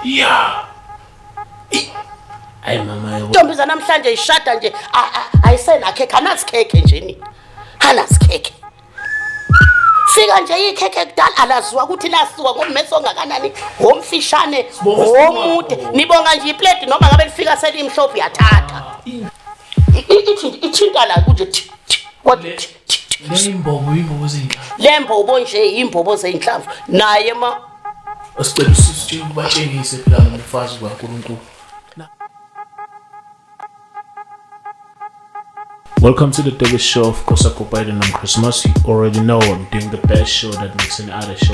ya hayi mama ntombi zanamhlanje ishada nje ayisenakhe khanazikhekhe njeni khanazikhekhe fika nje ikhekhe kudala alaziwa ukuthi lasiwa ngomesi ongakanani ngomfishane ngomude nibonga nje iplate noma ngabe lifika selimhlophe yathatha ithinta la kunje kodwa Leyimbobo imbobo zezinhlamvu. Lembobo nje imbobo zezinhlamvu. Naye ma Asicela usisi nje ubatshengise phela ngomfazi kaNkuluNkulu. Welcome to the biggest show. Of course, I go by the name Christmas. You already know I'm doing the best show that makes any other show.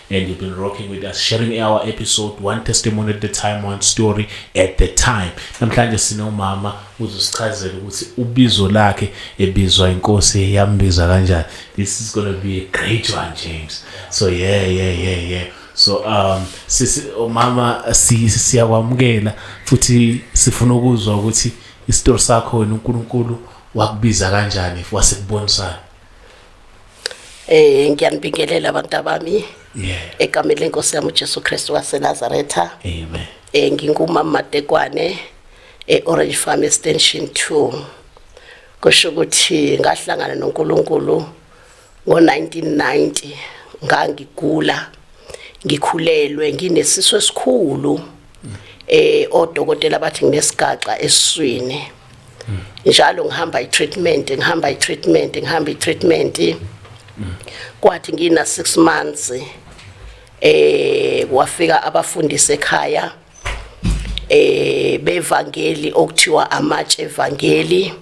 and you've been rocking with us sharing our episode one testimony at the time one story at the time namhlanje sinomama uzosichazela ukuthi ubizo lakhe ebizwa inkosi yambiza kanjani this is going to be a great one James so yeah yeah yeah yeah so um sisi umama siyakwamukela futhi sifuna ukuzwa ukuthi isitori sakho wena uNkulunkulu wakubiza kanjani wasekubonisa Eh ngiyanibingelela abantu abami. Yeah. Egameni lenkosi yami uJesu Kristu waseNazaretha. Amen. Eh ngingumama Matekwane eOrange Farm Extension 2. Kusho ukuthi ngahlangana noNkulunkulu ngo-1990 ngangigula ngikhulelwe nginesisu esikhulu eh odokotela bathi nginesigaxa eswini njalo ngihamba i-treatment ngihamba i-treatment ngihamba i-treatment kwathi ngina 6 months eh wafika abafundisi ekhaya eh bevangeli okuthiwa amatshe evangeli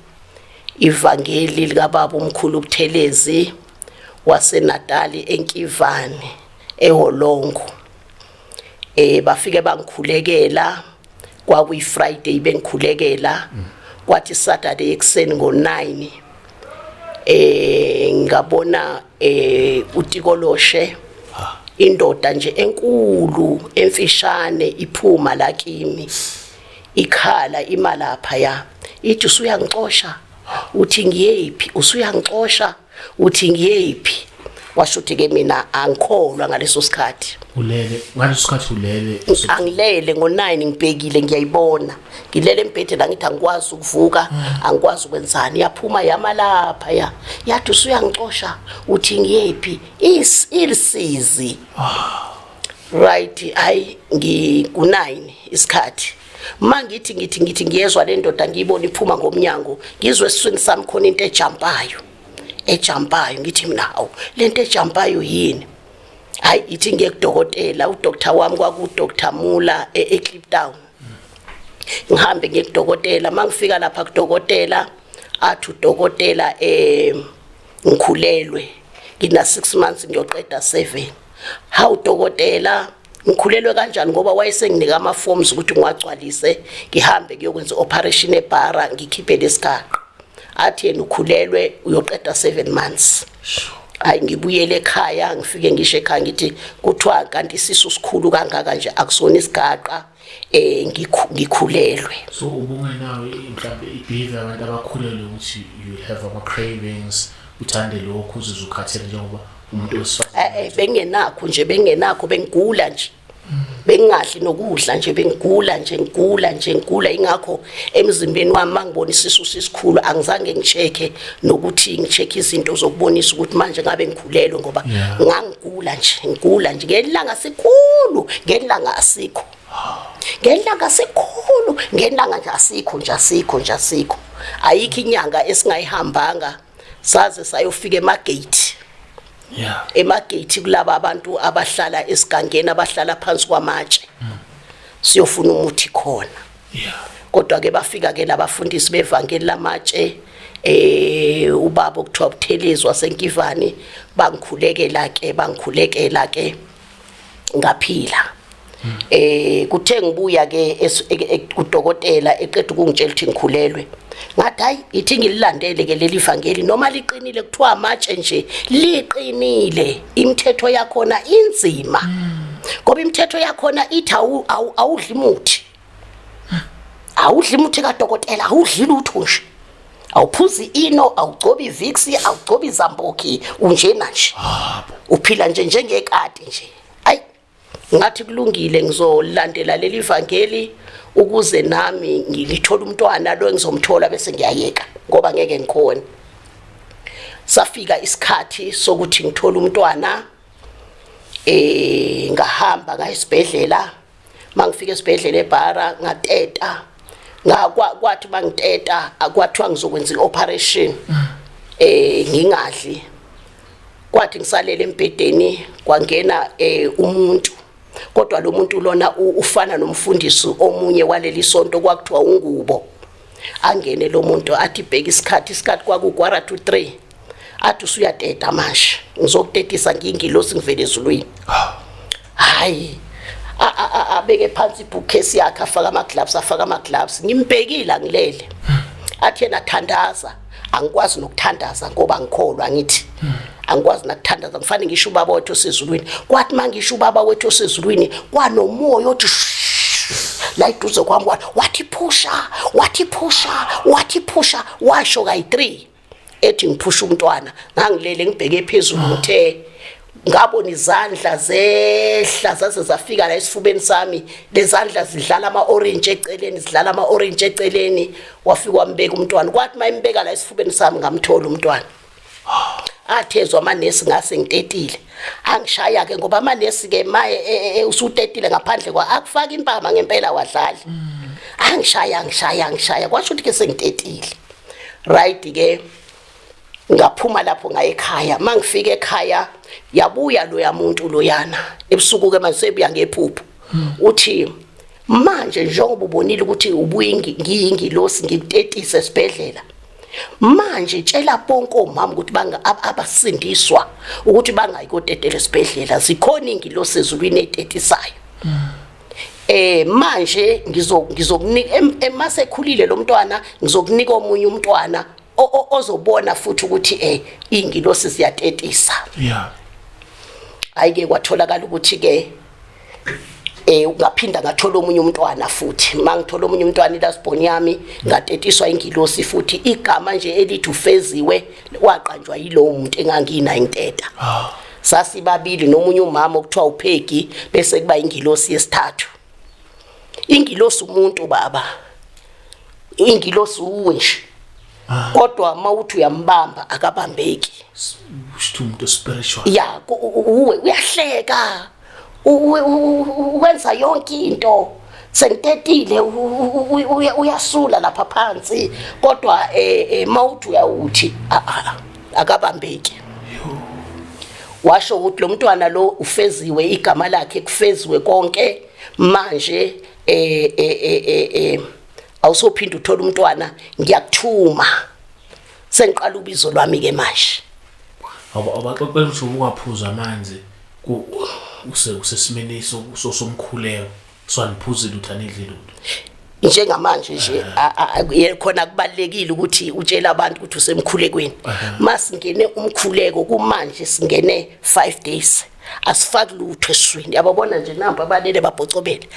ivangeli likababa umkhulu uButhelezi waseNatali eNkivane eHolongo eh bafike bangikhulekela kwakuyi Friday bengikhulekela kwathi Saturday ekseni ngo9 eh ngabona eh utikoloshe indoda nje enkulu emfishane iphuma la kimi ikhala imalapha ya ithi usuyangixosha uthi ngiyephi usuyangixosha uthi ngiyephi washo ukuthi ke mina angikholwa ngaleso sikhathi ulele ngaleso sikhathi ulele angilele ngo9 ngibhekile ngiyayibona ngilele embhedeni angithi angikwazi ukuvuka ah. angikwazi ukwenzani yaphuma yama lapha ya yathi usuyangicosha uthi ngiyephi is ilisizi ah. right hayi ngiku9 isikhathi mangithi ngithi ngithi ngiyezwa le ndoda ngiyibona iphuma ngomnyango ngizwe esiswini sami khona into ejampayo ejampayo ngithi mina hawu le nto ejampayo yini hayi ithi ngiye kudokotela udoktar wami kwakudoktar mula e-eclip town ngihambe ngiye kudokotela uma ngifika lapha kudokotela athi udokotela um ngikhulelwe ngina-six months ngiyoqeda seven hawu dokotela ngikhulelwe kanjani ngoba wayesenginika ama-forms ukuthi ngiwagcwalise ngihambe kuyokwenza i-operation ebhara ngikhiphe lesigaqa athi yena ukhulelwe uyoqeda seven months hayi ngibuyele ekhaya ngifike ngisho ekhaya ngithi kuthiwa kanti isisu sikhulu kangaka nje akusona isigaqa eh ngikhulelwe so ubungenawe mhlawumbe ibehavior abantu abakhulelwe ukuthi you have ama cravings uthande lokho uzizwe ukhathele njengoba umuntu wesifazane eh, eh bengenakho nje bengenakho bengigula nje bengingadli nokudla nje bengigula nje ngigula nje ngigula ingakho emzimbeni wami mangibona isisu sisikhulu angizange ngicheke nokuthi ngicheke izinto zokubonisa ukuthi manje ngabe ngikhulelwe ngoba ngangigula nje ngigula nje ngelanga sikhulu ngelanga asikho ngelanga sikhulu ngelanga nje asikho nje asikho nje asikho ayikho inyanga esingayihambanga saze sayofika emagate yeah emagate kulabo abantu abahlala esigangeni abahlala phansi kwamatshe mm. siyofuna umuthi khona kodwa-ke bafika-ke labafundisi bevangeli lamatshe eh ubaba okuthiwa Buthelezi wasenkivani bangikhulekela ke bangikhulekela ke ngaphila eh kuthe ngibuya ke kudokotela eqeda ukungitshela ukuthi ngikhulelwe ngathi hayi ithi ngililandele ke leli vangeli noma liqinile kuthiwa amatshe nje liqinile imithetho yakhona inzima ngoba imithetho yakhona ithi awudli muthi awudli muthi kadokotela awudli lutho nje awuphuzi ino awugcobi iviksi awugcobi izambuki unjena nje uphila nje njengekati nje ayi ngathi kulungile ngizolandela leli vangeli ukuze nami ngilithola umntwana lo engizomthola bese ngiyayeka ngoba ngeke ngikhona safika isikhathi sokuthi ngithole umntwana eh ngahamba ngayisibhedlela mangifika esibhedlela ebhara ngateta ngakwa kwathi bangiteta akwathiwa ngizokwenza ioperation eh ngingadli kwathi ngisalele embedeni kwangena eh umuntu kodwa lo muntu lona ufana nomfundisi omunye waleli sonto kwakuthiwa ungubo angene lo muntu athi bheka isikhathi isikhathi kwaku quarter to 3 athi usuyateta manje ngizokutetisa ngingilosi ngivele ezulwini hayi abeke phansi ibhukesi yakhe afaka ama-gloves afaka ama-gloves ngimbhekile angilele athi yena thandaza angikwazi nokuthandaza ngoba ngikholwa ngithi angikwazi nakuthandaza ngifane ngisho ubaba wethu osezulwini kwathi uma ngisho ubaba wethu osezulwini kwanomoya othi la iduze kwami wathi phusha wathi phusha wathi phusha washo kayi-three ethi ngiphusha umntwana ngangilele ngibheke phezulu ngithe ngabona izandla zehla zaze zafika la esifubeni sami lezandla zidlala ama orange eceleni zidlala ama orange eceleni wafika wambeka umntwana kwathi mayimbeka la esifubeni sami ngamthola umntwana athezwa amanesi ngase ngitetile angishaya ke ngoba amanesi ke maye e, e, e, usutetile ngaphandle kwa akufaka impama ngempela wadlali mm. angishaya angishaya angishaya kwasho ukuthi ke sengitetile right ke ngaphuma lapho ngayekhaya mangifika ekhaya yabuya loya muntu loyana ebusuku ke manje sebuya ngephupho hmm. uthi manje njengoba ubonile ukuthi ubuyingi ngiyingilosi ngikutetise esibhedlela manje tshela bonke omama ukuthi banga abasindiswa ukuthi bangayi kotetela esibhedlela zikhona ingilosi ezulwini etetisayo eh manje ngizokunika emasekhulile lo mntwana ngizokunika omunye umntwana ozobona futhi ukuthi eh ingilosi siyatetisa yeah ayike kwatholakala ukuthi ke eh ngaphinda ngathola omunye umntwana futhi mangithola omunye umntwana ilasbon yami ngatetiswa ingilosi futhi igama nje elithi ufeziwe waqanjwa yilowo muntu engangina inteta ah. sasibabili nomunye umama okuthiwa uphegi bese kuba ingilosi yesithathu ingilosi umuntu baba ingilosi uwe nje ah. kodwa uma uthi uyambamba akabambeki usithu umuntu spiritual ya uwe uyahleka wenza yonke into sengitetile uyasula lapha phansi kodwa um eh, eh, mawuthi uyawuthi ah, ah, ah, akabambeki washo ukuthi lo mntwana lo ufeziwe igama lakhe kufeziwe konke manje eh eh eh, eh, eh awusophinde uthole umntwana ngiyakuthuma sengiqala ubizo lwami ke manje abaxoxela ukuthi ubungaphuza amanzi usesimeni somkhuleko swaniphuzi lutho anidli lutho njengamanje nje eh. khona kubalekile ukuthi utshela abantu ukuthi usemkhulekweni eh. masingene umkhuleko kumanje singene 5 days asifaki lutho eswini yababona nje nampa abalele babhocobele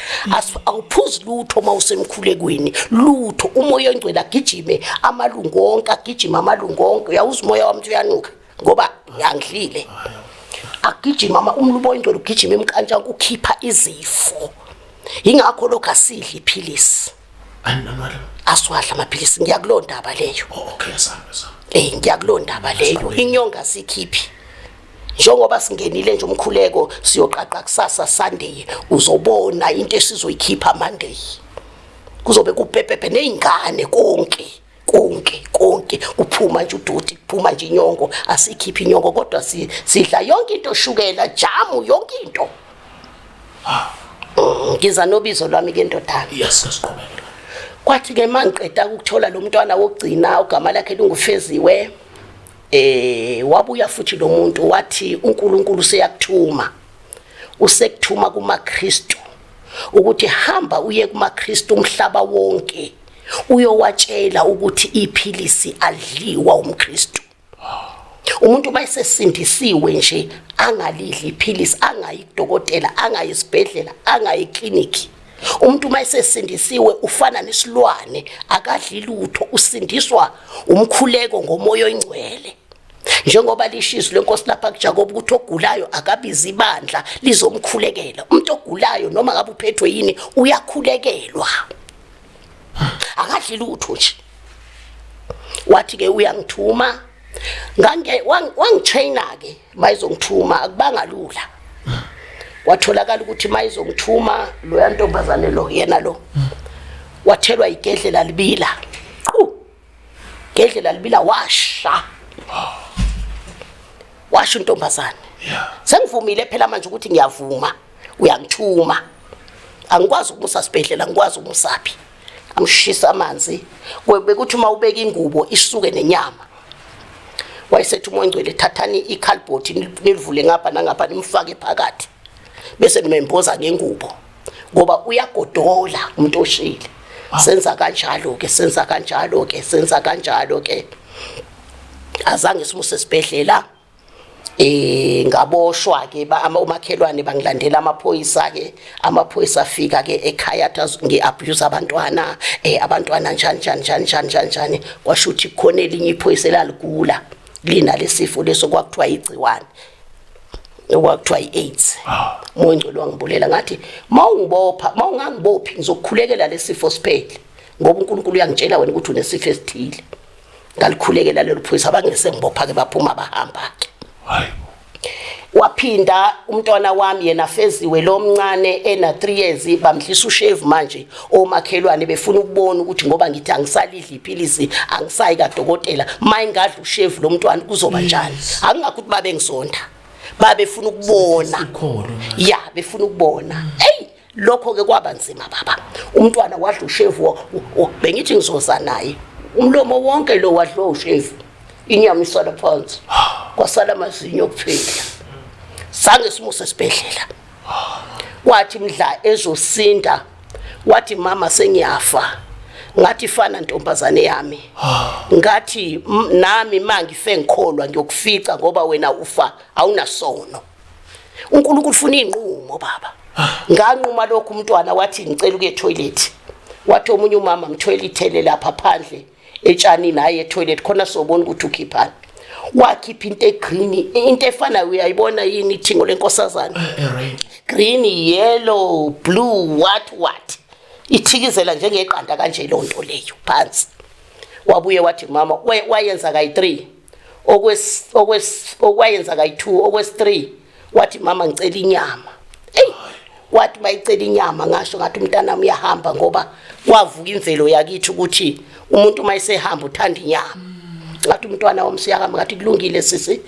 awuphuzi lutho uma usemkhulekweni lutho umoya ongcwele agijime amalungu onke agijime amalungu onke uyawuza umoya wami uyanuka ngoba ngangidlile agijima uma umlubo oyingcwele ugijima emkantshanko ukhipha izifo yingakho lokho asidli iphilisi asiwadla amaphilisi ngiyakulo ndaba leyo oh, okay sami sami eh ngiyakulo ndaba leyo inyonga sikhiphi njengoba singenile nje umkhuleko siyoqaqa kusasa Sunday uzobona into esizoyikhipha Monday kuzobe kupepepe nezingane konke konke konke kuphuma nje udoti kuphuma nje inyongo asikhiphi inyongo kodwa sidla yonke into shukela jamu yonke into ah. mm, ngiza nobizo lwami ke ndodana yes sasiqhubeka kwathi ke mangiqeda ukuthola lo mntwana wokugcina ugama lakhe lingufeziwe eh wabuya futhi lo muntu wathi uNkulunkulu seyakuthuma usekuthuma kumaKristu ukuthi hamba uye kumaKristu umhlaba wonke uyowatshela ukuthi iphilisi adliwa umKristu umuntu uma esesindisiwe nje angalidli iphilisi angayi kudokotela angayi esibhedlela angayi ekliniki umuntu uma esesindisiwe ufana nesilwane akadli lutho usindiswa umkhuleko ngomoya oyingcwele njengoba lishizo lenkosi lapha kuJakobe ukuthi ogulayo akabiza ibandla lizomkhulekela umuntu ogulayo noma ngabe uphethwe yini uyakhulekelwa akadli lutho nje wathi ke uyangithuma ngange wangitraina ke mayizongithuma akubanga lula watholakala ukuthi mayizongithuma loya ntombazane lo yena lo wathelwa igedlela libila qhu ngedlela libila washa washo intombazane sengivumile phela manje ukuthi ngiyavuma uyangithuma angikwazi ukumusa sibhedlela ngikwazi umusaphi amshisa amanzi bekuthi uma ubeka ingubo isuke nenyama wayesethi umoya ngcwele thathani ikhalibhothi nilivule ngapha nangapha nimfake phakathi bese nimemboza ngengubo ngoba uyagodola umuntu oshile senza kanjalo ke senza kanjalo ke senza kanjalo ke azange simuse esibhedlela eh ngaboshwa ke umakhelwane bangilandela amaphoyisa ke amaphoyisa afika ke ekhaya ngi abuse abantwana eh abantwana njani njani njani njani njani kwasho ukuthi khona elinye iphoyisa laligula lina lesifo leso kwakuthiwa igciwane okwakuthiwa i-aids ah. mongcwele wangibulela ngathi ma ungibopha ma ungangibophi ngizokukhulekela lesifo siphele ngoba uNkulunkulu uyangitshela wena ukuthi unesifo esithile ngalikhulekela lelo phoyisa abangese ngibopha ke baphuma bahamba ke hayi waphinda umntwana wami yena feziwe lomncane ena 3 years bamdlisa ushave manje omakhelwane befuna ukubona ukuthi ngoba ngithi angisalidli iphilisi angisayi kadokotela mayingadla ushevu lomntwana kuzoba njani akungakho ukuthi babe ngisonda babefuna ukubona ya befuna ukubona hey lokho ke kwaba nzima baba umntwana wadla ushevu bengithi ngizoza naye umlomo wonke lo wadlo ushevu inyama isala phansi kwasala amazinyo kuphela sange simuse sibhedlela kwathi mdla ezosinda wathi mama sengiyafa ngathi fana ntombazane yami ngathi nami mangife ngikholwa ngiyokufica ngoba wena ufa awunasono uNkulunkulu ufuna inqumo baba nganquma lokho umntwana wathi ngicela ukuye toilet wathi omunye umama mthwele ithele lapha phandle etshanini hhayi etoilet khona sobona ukuthi ukhiphani wakhipha into egreen into efanayo uyayibona yini ithingo lenkosazane eh, eh, green yellow blue what what ithikizela njengeqanda kanje lo nto leyo phansi wabuye wathi mama wayenza kayi-3 okwayenza kayi-2 okwesi-3 wathi mama ngicela inyama eyi wathi bayicela inyama ngasho ngathi umntanami uyahamba ngoba kwavuka imvelo yakithi ukuthi umuntu uma esehamba uthanda inyama ngathi umntwana wami siyakama ngathi kulungile sisi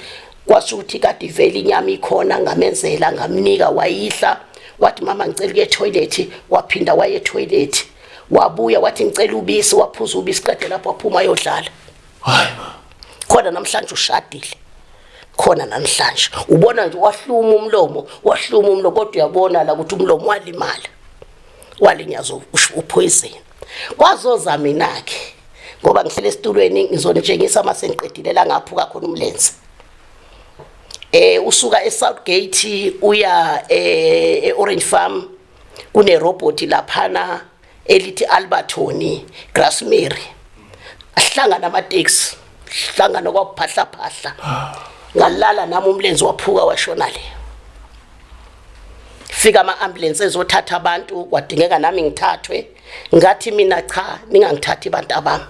kwasho ukuthi kade ivele inyama ikhona ngamenzela ngamnika wayidla wathi mama ngicela ukuye ethoyilethi waphinda waye ethoyilethi wabuya wathi ngicela ubisi waphuza ubisi qede lapho waphuma ayodlala hayi khona namhlanje ushadile khona namhlanje ubona nje wahluma umlomo wahluma umlomo kodwa uyabona la ukuthi umlomo walimala walinyaza uphoyizeni kwazoza mina ke ngoba ngihlele esitulweni ngizonitshengisa uma sengiqedile la ngaphuka khona umlenze eh usuka eSouth Gate uya eh eOrange Farm kune robot laphana elithi Albertoni Grassmary ahlangana amateksi hlangana kwaphahla phahla ngalala nami umlenze waphuka washona le fika ama ambulance ezothatha abantu kwadingeka nami ngithathwe ngathi mina cha ningangithathi abantu abami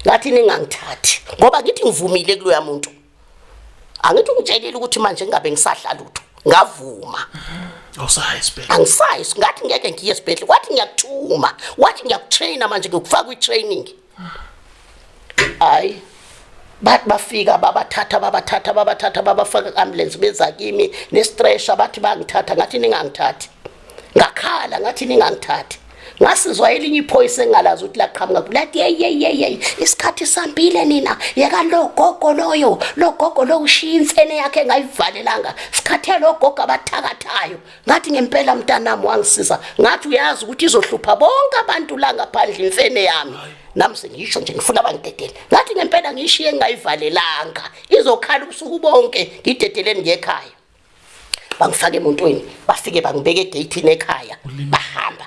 ngathi ningangithathi ngoba ngithi ngivumile kuloya muntu angithi ungitshelile ukuthi manje ngingabe ngisadla lutho ngavuma awusayi esibhedlela angisayi ngathi ngeke ngiye esibhedlela kwathi ngiyakuthuma wathi ngiyakutraina manje ngikufaka kwi-training hayi bathi bafika babathatha babathatha babathatha babafaka ku-ambulance beza kimi nestresha bathi bangithatha ngathi ningangithathi ngakhala ngathi ningangithathi ngasizwa elinye iphoyisa engalazi ukuthi laqhamuka kulathi yeyeyeyeyi isikhathi sambile nina yeka lo gogo loyo lo gogo lo ushiya imfene yakhe engayivalelanga sikhathe lo gogo abathakathayo ngathi ngempela mntanami wangisiza ngathi uyazi ukuthi izohlupha bonke abantu la ngaphandle imfene yami nami sengisho nje ngifuna bangidedele ngathi ngempela ngishiye engayivalelanga izokhala ubusuku bonke ngidedeleni ngekhaya bangifaka emotweni bafike bangibeka egeyithini ekhaya bahamba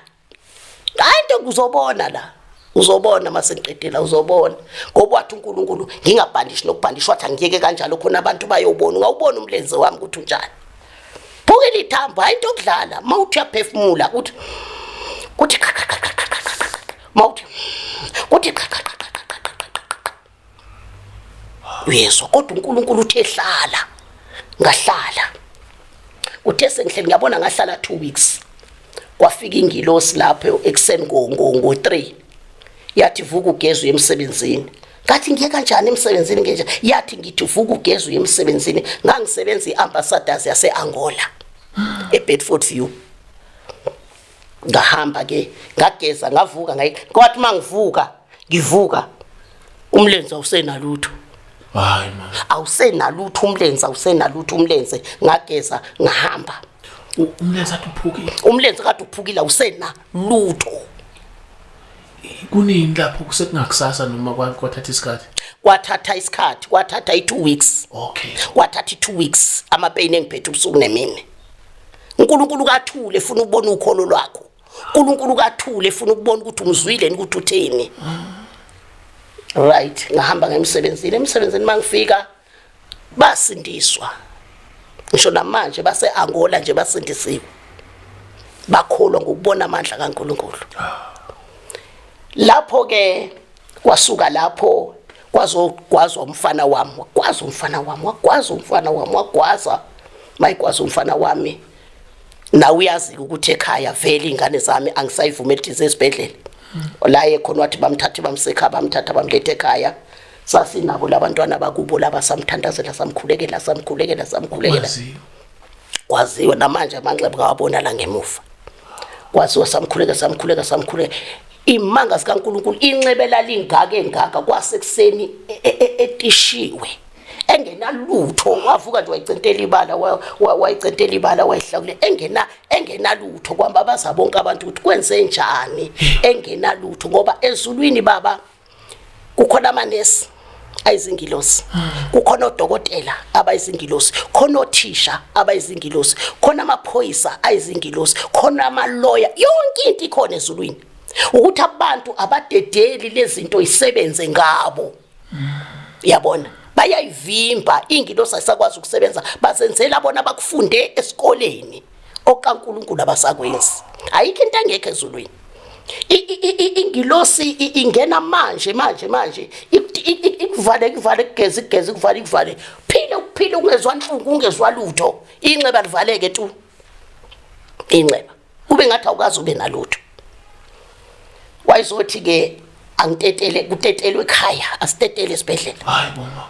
hayi ntombi uzobona la uzobona uma sengiqedela uzobona ngoba wathi unkulunkulu ngingabhandishi nokubhandishi wathi angiyeke kanjalo khona abantu bayobona ungawubona umlenze wami ukuthi unjani phuke lithambo hayi into okudlala uma uthi uyaphefumula ukuthi kuthi uma uthi uyezwa kodwa uNkulunkulu uthe hlala ngahlala uthe sengihle ngiyabona ngahlala 2 weeks kwafika ingilosi lapho ekseni ngo ngo ngo 3 yathi vuka ugezwe emsebenzini ngathi ngiye kanjani emsebenzini ngenja yathi ngithi vuka ugezwe emsebenzini ngangisebenza iambassadors yaseAngola eBedford View ngahamba ke ngageza ngavuka ngayi kwathi mangivuka ngivuka umlenze awusenalutho hayi man awusenalutho umlenze awusenalutho umlenze ngageza ngahamba umlenze athi uphukile umlenze kade uphukile awusena lutho kunini lapho kusekungakusasa noma kwathatha isikhathi kwathatha isikhathi kwathatha i2 weeks okay kwathatha i2 weeks ama pain engiphethe ubusuku nemini uNkulunkulu kathule efuna ukubona ukholo lwakho uNkulunkulu kathule efuna ukubona ukuthi umzwile ukuthi uthini right ngahamba ngemsebenzini emsebenzini mangifika basindiswa ngisho namanje base Angola nje basindisiwe bakholwa ngokubona amandla kaNkuluNkulu lapho ke kwasuka lapho kwazogwazwa umfana wami wagwaza umfana wami wagwaza umfana wami wagwaza mayigwaza umfana wami nawe uyazi ukuthi ekhaya vele ingane zami angisayivumeli ukuthi esibhedlela la ekhona wathi bamthathe bamsekha bamthatha bamlethe ekhaya sasinabo labantwana bakubo laba samthandazela samkhulekela samkhulekela samkhulekela kwaziwa namanje amanxeba ngawabona la ngemuva kwaziwa samkhuleka samkhuleka samkhuleka imanga zikaNkuluNkulu inxebela lingaka engaka kwasekuseni e, e, e, etishiwe engenalutho wavuka nje wayicentela ibala wayicentela ibala wayihlakule engena engenalutho kwamba baza bonke abantu ukuthi kwenze njani engenalutho ngoba ezulwini baba kukhona amanesi ayizingilosi kukhona odokotela abayizingilosi khona othisha abayizingilosi khona amaphoyisa ayizingilosi khona amaloya yonke into ikhona ezulwini ukuthi abantu abadedeli lezinto isebenze ngabo yabona bayayivimba ingilosi ayisakwazi ukusebenza bazenzela bona bakufunde esikoleni okaNkulunkulu abasakwenzi ayikho into engekho ezulwini ingilosi ingena manje manje manje ikuvale ikuvale kugeza igeza ikuvale ikuvale phile ukuphila ungezwa nhlungu ungezwa lutho inxeba livaleke tu inxeba ube ngathi awukazi ube nalutho wayizothi ke angitetele kutetelwe ekhaya asitetele esibhedlela hayi mama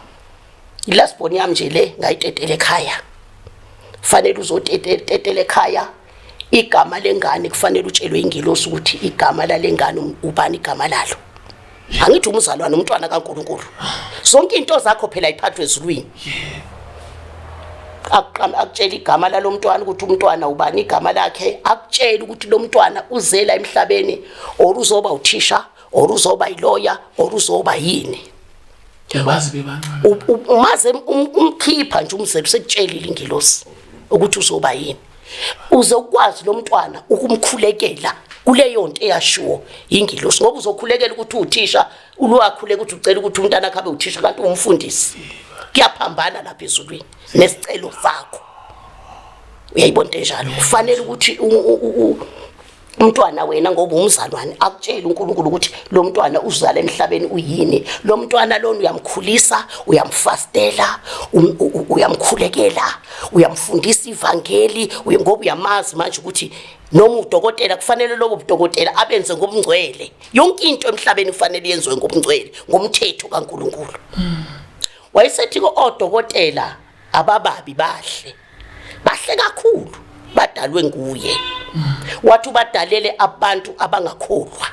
ilast born yami nje le ngayitetele ekhaya fanele uzotetele ekhaya igama lengane kufanele utshelwe ingelosi ukuthi igama lalengane um, ubani igama lalo angithi umzalwane umntwana kaNkuluNkulu zonke into zakho phela iphathwe ezulwini akuqama akutshela igama lalomntwana ukuthi umntwana ubani igama lakhe akutshela ukuthi lomntwana uzela emhlabeni or uzoba uthisha or uzoba yiloya or uzoba yini yabazi bebancane umaze um, umkhipha nje umzelo sekutshelile ingilosi ukuthi uzoba yini uzokwazi lo mntwana ukumkhulekela kuleyo nto eyashiwo yingilosi ngoba uzokhulekela ukuthi uthisha ulwakhuleka ukuthi ucela ukuthi umntana akhe abe uthisha kanti ungumfundisi kuyaphambana lapha ezulwini nesicelo sakho uyayibona into enjalo kufanele ukuthi umntwana wena ngoba umzalwane akutshela uNkulunkulu ukuthi lo mntwana uzala emhlabeni uyini lo mntwana lona uyamkhulisa uyamfastela um, uyamkhulekela uyamfundisa ivangeli ngoba uyamazi manje ukuthi noma udokotela kufanele lobo budokotela abenze ngobungcwele yonke into emhlabeni kufanele yenziwe ngobungcwele ngomthetho kaNkuluNkulu wayesethi kodokotela abababi bahle bahle kakhulu badalwe nguye wathi ubadalele abantu abangakholwa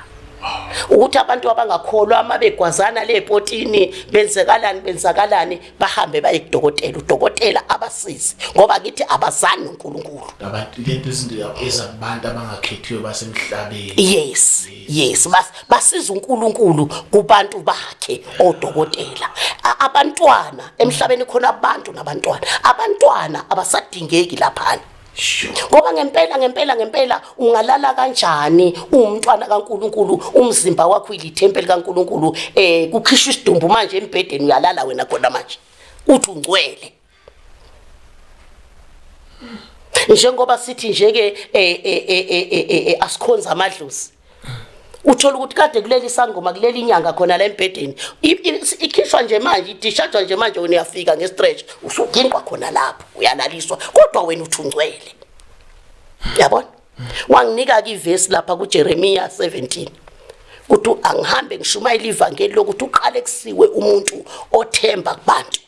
ukuthi abantu abangakholwa uma begwazana lepotini benzekalani benzakalani bahambe baye kudokotela udokotela abasizi ngoba kithi abazani noNkulunkulu abantu lento izinto ezantu abangakhethiwe basemhlabeni yes yes bas basiza uNkulunkulu kubantu bakhe odokotela abantwana emhlabeni khona abantu nabantwana abantwana abasadingeki laphana ngoba ngempela ngempela ngempela ungalala kanjani uwumntwana kaNkuluNkulu umzimba wakho ilithempeli kaNkuluNkulu eh kukhishwa isidumbu manje embhedeni uyalala wena khona manje uthi ungcwele njengoba sithi nje ke eh, eh, eh, asikhonza amadlozi uthola ukuthi kade kuleli sangoma kuleli inyanga khona la embhedeni ikhishwa nje manje idishajwa nje manje wena uyafika ngestretch usugingwa khona lapho uyalaliswa kodwa wena uthungcwele yabona wanginika ke ivesi lapha kuJeremiya 17 ukuthi angihambe ngishumayela ivangeli lokuthi uqale kusiwe umuntu othemba kubantu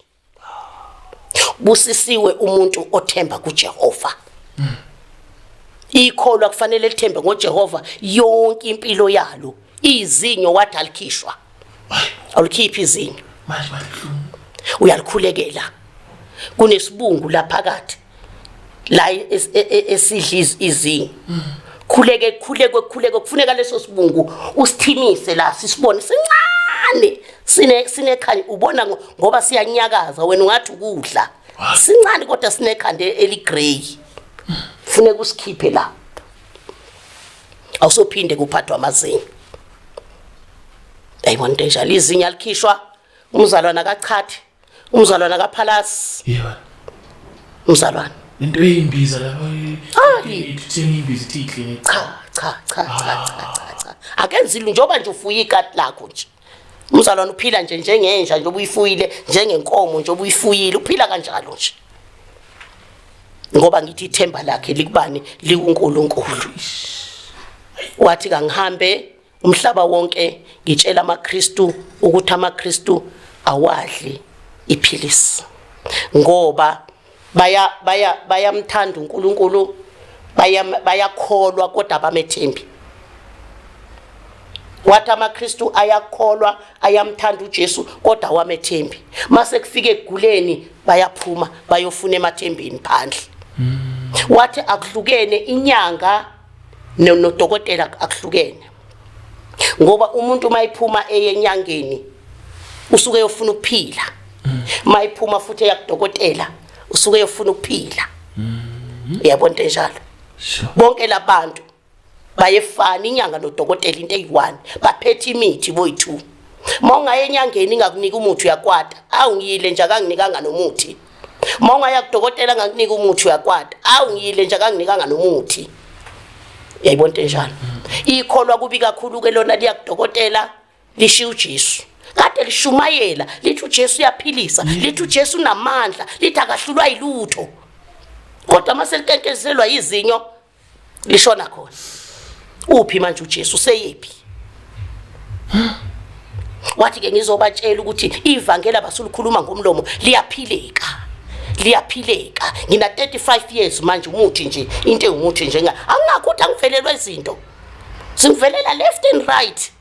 busisiwe umuntu othemba kuJehova ikholwa kufanele lithembe ngoJehova yonke impilo yalo izinyo wathi alikhishwa awulikhiphi izinyo manje balihlungu uyalikhulekela kunesibungu laphakathi la e, e, esidla izinga khuleke khuleke khuleke kufuneka leso sibungu usithimise la sisibone sincane sine sinekhanya ubona ngoba siyanyakaza wena ungathi ukudla sincane kodwa sinekhanda eligrey funeka usikhiphe la awusophinde kuphathwa amazinyo ayibona into enjalo izinyo alikhishwa umzalwana kachathi umzalwana kaphalasi yebo umzalwana into eyimbiza lapha ithini imbiza ithi clinic cha cha cha cha cha akenzi lu njoba nje ufuye ikati lakho nje umzalwana uphila nje njengenja nje obuyifuyile njengenkomo nje obuyifuyile uphila kanjalo nje ngoba ngithi ithemba lakhe likubani likuNkulunkulu wathi kangihambe Umhlaba wonke ngitshela amaKristu ukuthi amaKristu awadli iphilisi ngoba baya baya bayamthanda uNkulunkulu bayakholwa kodwa abamethembi wathi amaKristu ayakholwa ayamthanda uJesu kodwa awamethembi mase kufika eguleni bayaphuma bayofuna emathembeni phandle hmm. wathi akuhlukene inyanga nodokotela akuhlukene ngoba umuntu uma iphuma eyenyangeni usuke yofuna ukuphila uma mm. iphuma futhi eyakudokotela usuke yofuna ukuphila mm-hmm. uyabona into enjalo bonke labantu bayefana inyanga nodokotela into eyi-one baphethe imithi boyi-two uma ungaye enyangeni ingakunika umuthi uyakwata awungiyile nje akanginikanga nomuthi uma ungaya kudokotela ngakunika umuthi uyakwata awu ngiyile nje akanginikanga nomuthi yayibona into enjalo ikholwa kubi kakhulu ke lona liya kudokotela lishiya uJesu kade lishumayela lithi uJesu uyaphilisa mm. lithi uJesu unamandla lithi akahlulwa yilutho kodwa uma selitentezelwa izinyo lishona khona uphi manje uJesu seyephi wathi ke ngizobatshela ukuthi ivangeli abasulikhuluma ngomlomo liyaphileka liyaphileka ngina 35 years manje umuthi nje into engumuthi njenga angakho ukuthi angivelelwe izinto singivelela left and right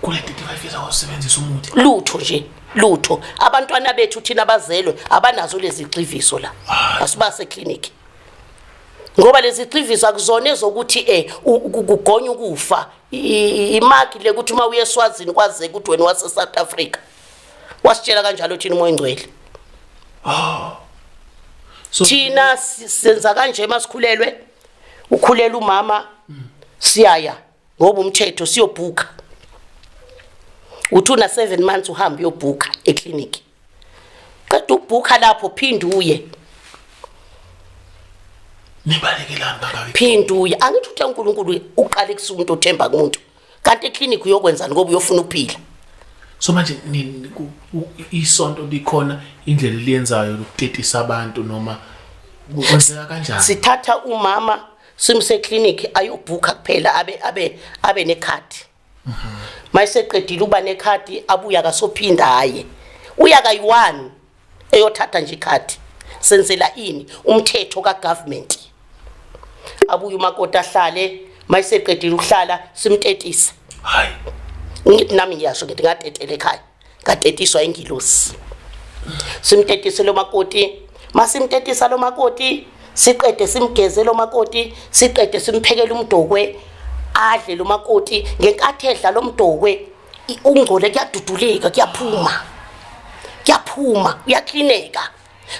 kule 35 years awusebenzisa umuthi lutho nje lutho abantwana bethu thina bazelwe abanazo lezi gxiviso la asibase clinic ngoba lezi gxiviso akuzona ezokuthi eh kugonya ukufa imaki le ukuthi uma uyeswazini kwaze ukuthi wena wase South Africa wasitshela kanjalo thina umoya ingcwele oh so thina senza kanje masikhulelwe ukhulela umama siyaya ngoba umthetho siyobhuka uthi una 7 months uhamba uyobhuka eclinic qeda ubhuka lapho phinde uye nibalekelani bakawe phinde uye angithi uthe uNkulunkulu uqale kusuka umuntu othemba kumuntu kanti eclinic uyokwenzani ngoba uyofuna ukuphila so manje isonto likhona indlela eliyenzayo lokutetisa abantu noma kwenzeka kanjani sithatha umama simse clinic ayobhuka kuphela abe abe abe nekhadi mhm. mayiseqedile uba nekhadi abuya kasophinda haye uya kayi-one eyothatha nje ikhadi senzela ini umthetho ka government abuye umakoti ahlale mayiseqedile ukuhlala simtetise hayi ngithi nami ngiyasho ngithi ngatetele ekhaya ngatetiswa ingilosi simtetise lo makoti masimtetisa lo makoti siqede simgeze lo makoti siqede simphekele umdokwe adle lo makoti ngenkathi edla lo mdokwe ungcole kuyaduduleka kuyaphuma kuyaphuma kuyaklineka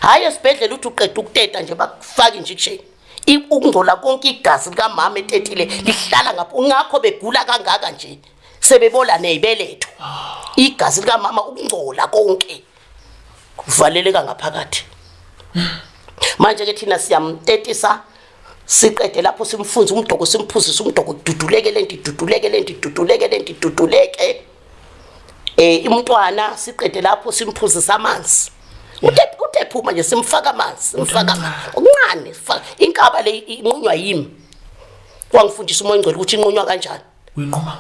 hhayi esibhedlela uthi uqeda ukuteta nje bakufake injection ukungcola konke igazi likamama etetile lihlala ngapho ngakho begula kangaka nje sebebola neyibeletho igazi likamama ukungcola konke kuvaleleka ngaphakathi manje ke thina siyamtetisa siqede lapho simfunza umdoko simphuzisa umdoko duduleke lento duduleke lento duduleke lento duduleke eh imntwana siqede lapho simphuzisa amanzi utephi utephi uma nje simfaka amanzi simfaka uncane inkaba le inqunywa yimi wangifundisa umoya ongcwele ukuthi inqunywa kanjani uyinquma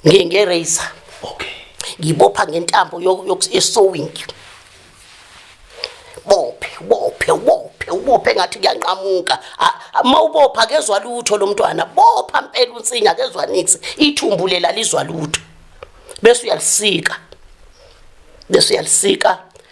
ngani nge razor okay ngibopha ngentambo yesewing bophe bophe ubophe ubophe ngathi kuyanqamuka uma ubopha kezwa lutho lo mntwana bopha mpela unsinga kezwa nix ithumbu lela lizwa lutho bese uyalisika bese uyalisika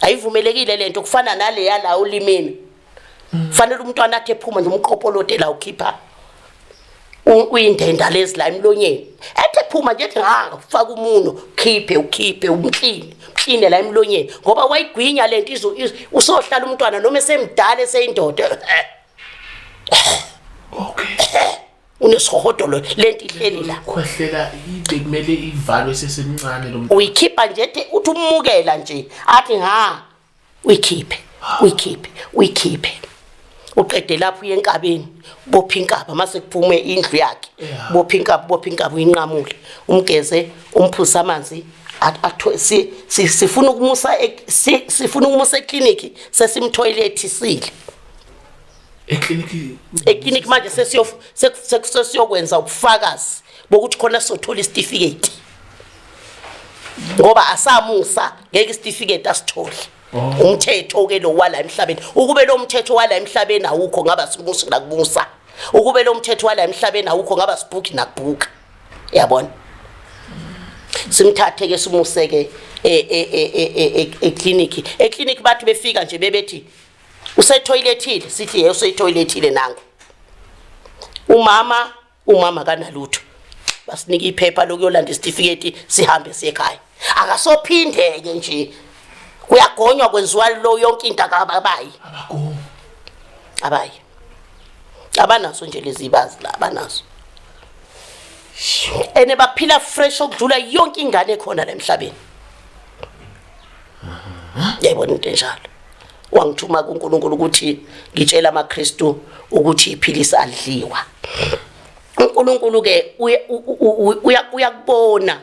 ayivumelekile lento kufana nale yala ulimini fanele umntwana athi ephuma nomqopolote la ukhipha uyindenda lezi la emlonyeni ethe phuma nje ethi ha ufaka umuno khiphe ukhiphe umkline umkline la emlonyeni ngoba wayigwinya lento izo usohlala umntwana noma esemdala eseyindoda okay unesihotolo lento ihleli la khwehlela ibe kumele ivalwe sesemncane lo muntu uyikhipha nje ethi uthi umukela nje athi ha uyikhiphe uyikhiphe uyikhiphe uqede lapho uye enkabeni bopha inkaba mase kuphume indlu yakhe Yeah. bopha inkaba bopha inkaba uyinqamule umgeze umphuze amanzi at- atho- si- si- sifuna ukumusa e- si- sifuna ukumusa eclinic sesimthoyilethisile eklinikhi manje sesiyokwenza ubufakazi bokuthi khona sizothola isitifiketi ngoba asamusa ngeke isitifiketi asithole oh. umthetho ke lo wala emhlabeni ukube lo mthetho wala emhlabeni awukho ngaba simusa nakubusa ukube lo mthetho wala emhlabeni awukho ngaba sibhuki nakubhuka yabona simthathe ke simuseke e, e, e, eclinic eclinic bathi befika nje bebethi usethoyilethile sithi ye useyithoyilethile nangu umama umama kanalutho basinika iphepha lokuyolanda isitifiketi sihambe siye ekhaya akasophindeke nje kuyagonywa kwenziwa lo yonke into akababayi abagomi abayi abanaso nje lezi bazi la abanaso ene baphila fresh okudlula yonke ingane ekhona la emhlabeni yayibona into enjalo wangithuma kuNkulunkulu ukuthi ngitshela amaKristu ukuthi iphilisi adliwa uNkulunkulu ke uyakubona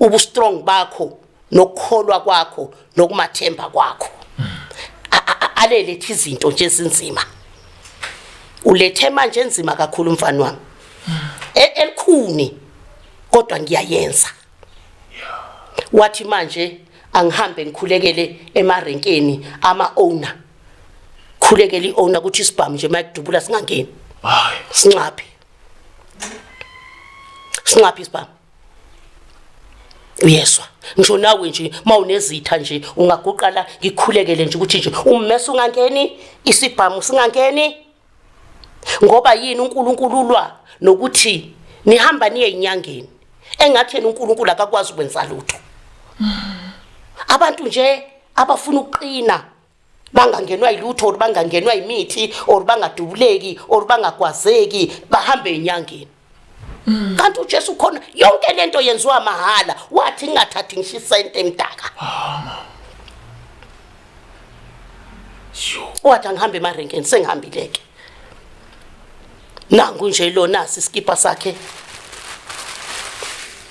ubu strong bakho nokukholwa kwakho nokumathemba kwakho alelethe izinto nje ezinzima ulethe manje enzima kakhulu mfana wami e-, elikhuni kodwa ngiyayenza wathi manje angihambe ngikhulekele emarenkeni ama owner khulekele i owner ukuthi isibhamu nje mayidubula singangeni hayi sinxaphi sinxaphi isibhamu uyeswa ngisho nawe nje mawunezitha nje ungaguqala ngikhulekele nje ukuthi nje ummesa ungangeni isibhamu singangeni ngoba yini uNkulunkulu ulwa nokuthi nihamba niye inyangeni engathi yena uNkulunkulu akakwazi ukwenza lutho abantu nje abafuna ukuqina bangangenwa yilutho or bangangenwa yimithi or bangadubuleki or bangagwazeki bahambe enyangeni kanti uJesu khona yonke lento yenziwa mahala wathi ngingathathi ngisho isente emdaka wathi angihambe emarenkeni sengihambileke nangu nje lo nasi isikipha sakhe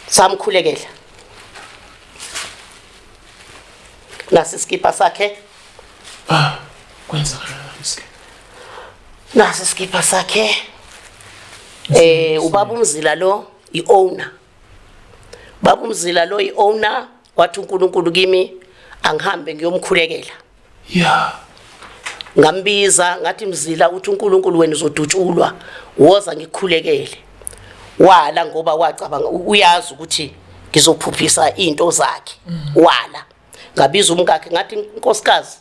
samkhulekela nasi isikipha sakhe ah kwenzakalani isikipha nasi isikipha sakhe eh ubaba umzila lo iowner baba umzila lo iowner wathi uNkulunkulu kimi angihambe ngiyomkhulekela yeah ngambiza ngathi mzila uthi uNkulunkulu wena uzodutshulwa woza ngikhulekele wala ngoba wacabanga uyazi ukuthi ngizophuphisa into zakhe mm. wala ngabiza umkakhe ngathi inkosikazi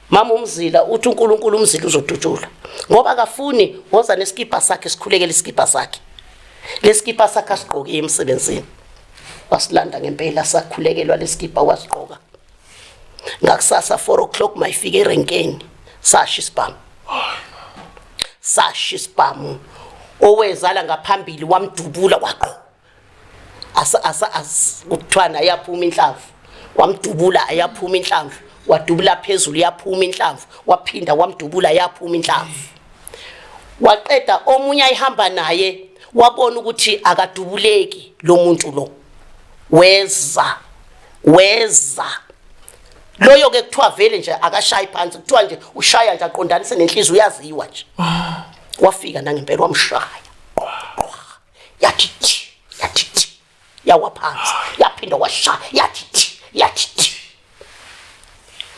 Mama umzila uthi uNkulunkulu umzila uzodutshula ngoba akafuni woza nesikibha sakhe sikhulekele isikibha sakhe lesikibha sakhe asigqoke emsebenzini wasilanda ngempela sakhulekelwa lesikibha wasigqoka ngakusasa 4 o'clock mayifike erenkeni sasha isibhamu sasha isibhamu owezala ngaphambili wamdubula waqo asa asa kuthwana ayaphuma inhlamvu wamdubula ayaphuma inhlamvu wadubula phezulu yaphuma inhlamvu waphinda wamdubula yaphuma inhlamvu waqeda omunye ayihamba naye wabona ukuthi akadubuleki lo muntu lo weza weza loyo ke kuthiwa vele nje akashayi phansi kuthiwa nje ushaya nje aqondanise nenhliziyo uyaziwa nje ah. wafika nangempela wamshaya yathi thi yathi thi yawa phansi yaphinda kwasha yathi thi yathi thi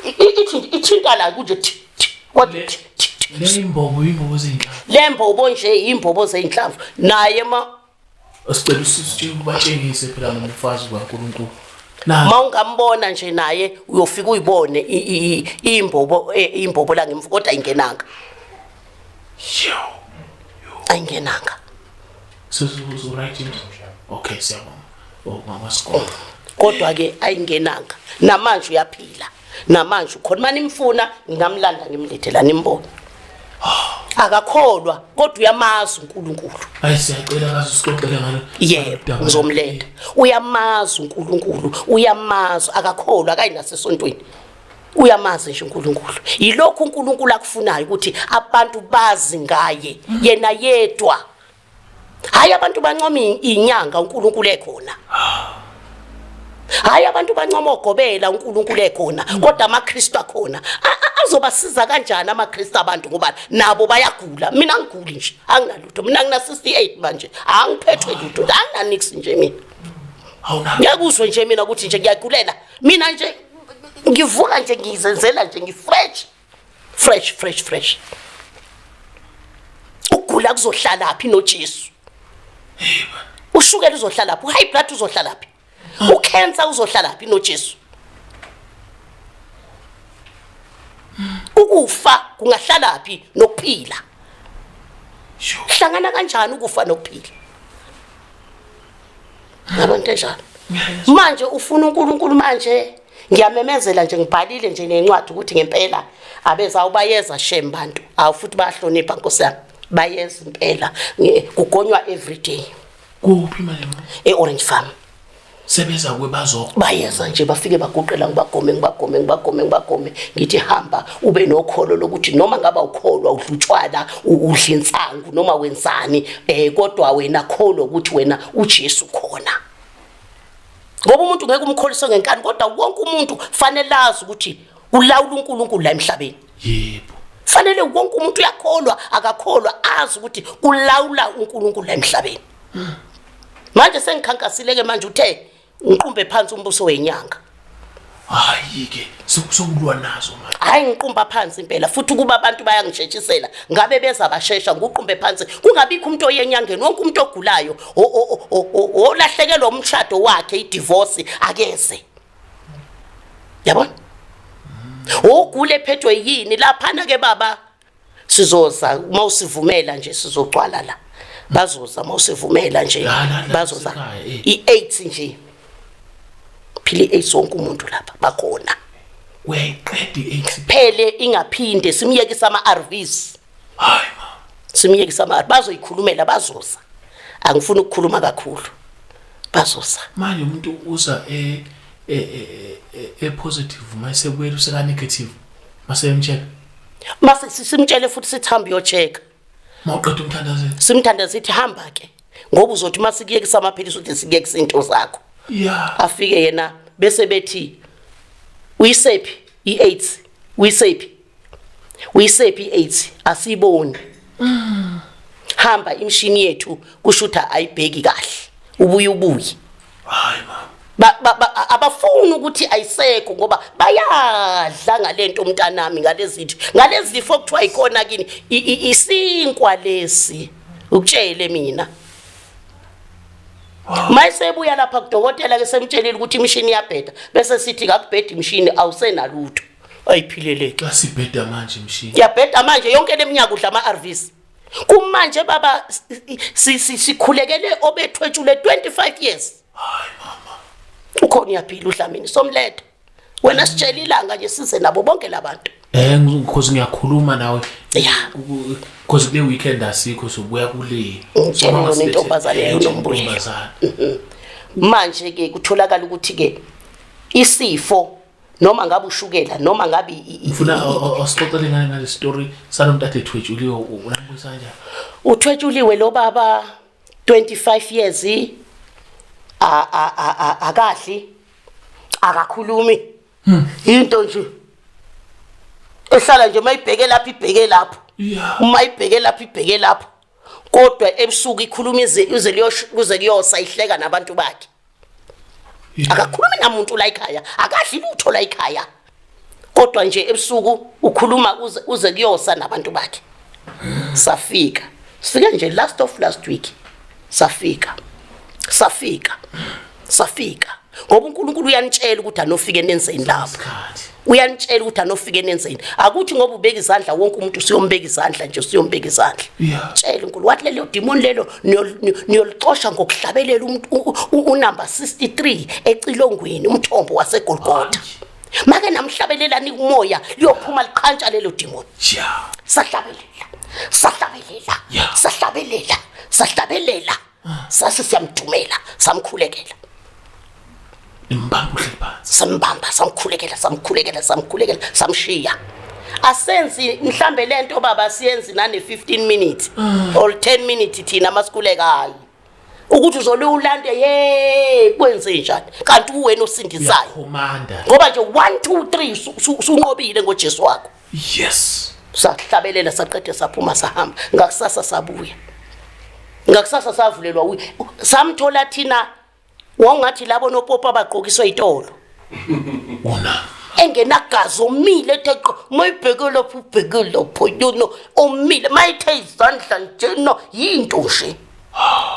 ithi ithinta la kunje thi thi kwathi thi thi thi. le imbobo imbobo zenhla le mbobo nje yimbobo zeyinhlamvu naye ma sicela usisi ubatshengise phela ngomfazi kaNkulunkulu nazi ma ungambona nje naye uyofika uyibone i- i- i- imbobo e- imbobo la ngemvu kodwa ingenanga ayingenanga okay siyabonga oh, oh, kodwa ke ayingenanga namanje uyaphila namanje ukhona uma nimfuna ngingamlanda ngimlethe la nimbone akakholwa kodwa uyamazi uNkulunkulu hayi siyacela kaze usixoxele ngalo yebo ngizomlenda uyamazi uNkulunkulu uyamazi akakholwa akayinasesontweni uyamazi nje uNkulunkulu yilokhu uNkulunkulu akufunayo ukuthi abantu bazi ngaye yena yedwa hayi abantu bancoma inyanga uNkulunkulu ekhona hayi abantu bancoma ogobela uNkulunkulu ekhona kodwa amaKristu akhona azobasiza kanjani amaKristu abantu ngoba nabo bayagula mina ngiguli nje anginalutho mina ngina 68 manje angiphethwe lutho anginanix nje mina ngiyakuzwe nje mina ukuthi nje ngiyagulela mina nje ngivuka nje ngizenzela nje ngifresh fresh fresh fresh ukugula kuzohlala phi noJesu ushukela uzohlala phi uhigh blood uzohlala phi ucancer uzohlala phi noJesu ukufa kungahlala phi nokuphila hlangana kanjani ukufa nokuphila Ngabantu enjalo. Manje ufuna uNkulunkulu manje ngiyamemezela nje ngibhalile nje nencwadi ukuthi ngempela abeza ubayeza shem bantu awu futhi bayahlonipha nkosi yami bayeza impela kugonywa everyday kuphi manje e-orange farm sebeza kwebazo bayeza nje bafike baguqela ngibagome ngibagome ngibagome ngibagome ngithi hamba ube nokholo lokuthi noma ngaba ukholwa udlutshwana udla insangu noma wenzani eh kodwa wena kholo ukuthi wena uJesu khona ngoba umuntu ngeke umkholise ngenkani kodwa wonke umuntu fanele azi ukuthi ulawula uNkulunkulu la emhlabeni yebo fanele wonke umuntu uyakholwa akakholwa azi ukuthi kulawula uNkulunkulu la emhlabeni manje sengikhankasileke manje uthe ngiqumbe phansi umbuso wenyanga hayi ke sokulwa nazo manje hayi ngiqumba phansi impela futhi ukuba abantu bayangishetshisela ngabe beza bashesha nguqumbe phansi kungabikho umuntu oyenyangeni wonke umuntu ogulayo olahlekelwa umshado wakhe idivorce akeze yabona ogule ephethwe yini laphana ke baba sizoza uma usivumela nje sizogcwala la bazoza uma usivumela nje bazoza eh. i-aids nje phila i-aids wonke umuntu lapha bakhona uyayiqeda i-aids phele ingaphinde simyekise ama-arvs hayi simyekise ama-arv bazoyikhulumela bazoza angifuni ukukhuluma kakhulu bazoza manje umuntu uza e, e, e, e-positive uma esebuyela usekanegativu maseyemtshela mase simtshele futhi sithi hamba uyocheka mawuqeda umthandazelo simthandaze sithi hamba ke ngoba uzothi uma sikuyekisa amaphilisi uthi sikuyekisa into zakho yeah afike yena bese bethi uyisephi i-aids uyisephi uyisephi i-aids asiyiboni mm. hamba imshini yethu kushutha ayibheki kahle ubuye ubuye hayi mama abafuni ukuthi ayisekho ngoba bayadla ngalento umntanami ngalezithu ngalezifo okuthiwa ikona kini isinkwa lesi ukutshele mina mayisebuya lapha kudokotela ke semtshelile ukuthi imishini iyabheda bese sithi kakubhedi imishini awusenalutho ayiphileleke xa sibheda manje imishini yabheda manje yonke leminyaka udla ama-arvs kumanje baba sikhulekele obethwetshule 25 years hayi mama ukhona uyaphila uDlamini somletha wena sitshela ilanga nje size nabo bonke labantu eh because ngiyakhuluma nawe yeah because kule weekend asikho sobuya kule ngitshela intombazane eh, yonombuye mm-hmm. manje ke kutholakala ukuthi ke isifo noma ngabe ushukela noma ngabe ngifuna osixoxele ngale ngale story salomtata ethwetshuliwe unambuyisa kanjani uthwetshuliwe lo baba 25 years a a a akahle akakhulumi hmm. into nje ehlala nje mayibheke lapha ibheke lapho uma ibheke lapha ibheke lapho kodwa ebusuku ikhuluma ize kuze kuyosa ihleka nabantu bakhe akakhulumi namuntu la ekhaya akadli lutho la ekhaya kodwa nje ebusuku ukhuluma uze, uze kuyosa nabantu bakhe safika sifike nje last of last week safika safika safika ngoba uNkulunkulu uyanitshela ukuthi anofike nenzeni lapho uyanitshela ukuthi anofike nenzeni akuthi ngoba ubeka izandla wonke umuntu siyombeka izandla nje siyombeka izandla tshela unkulu wathi lelo demon lelo niyolixosha ngokuhlabelela unumber 63 ecilongweni umthombo wasegolgotha make namhlabelelani kumoya liyophuma liqhantsha lelo demon sahlabelela sahlabelela sahlabelela sahlabelela sase siyamthumela samkhulekela imbamba uhleli phansi sambamba samkhulekela samkhulekela samkhulekela samshiya asenzi mhlambe lento baba siyenzi nane 15 minutes mm. or 10 minutes thina masikulekayo ukuthi uzole ulande ye kwenze njani kanti uwena osindisayo ngoba nje 1 2 3 sunqobile ngoJesu wakho yes sahlabelela saqede saphuma sahamba ngakusasa sabuya ngakusasa savulelwa wi samthola thina wawungathi labo nopopa abagqokiswa itolo wona engenagazi omile ethe qo mayibheke lapho ubheke lapho yona omile mayithe izandla njena yinto nje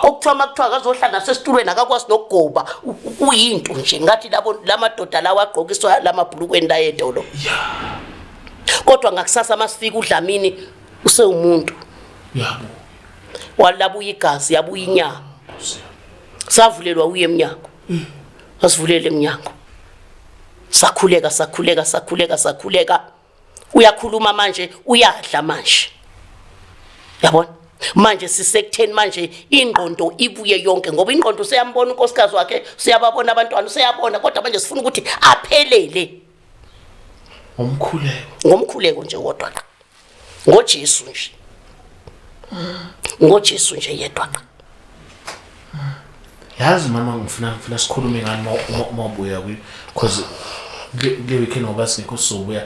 okuthiwa makuthiwa akazohlala nasesitulweni akakwazi nokugoba uyinto nje ngathi labo lamadoda lawa agqokiswa lamabhulukweni la edolo kodwa ngakusasa masifika udlamini usewumuntu yabo walabuya igazi yabuya inyama savulelwa uye emnyango mm. wasivulele emnyango sakhuleka sakhuleka sakhuleka sakhuleka uyakhuluma manje uyadla manje yabona manje sisekutheni manje ingqondo ibuye yonke ngoba ingqondo useyambona unkosikazi wakhe useyababona abantwana useyabona kodwa manje sifuna ukuthi aphelele ngomkhuleko ngomkhuleko nje wodwa ngoJesu nje ngoJesu nje yedwa yazi mama ngifuna ngifuna sikhulume ngani uma ubuya kuyo because kule weekend ngoba singekho sizobuya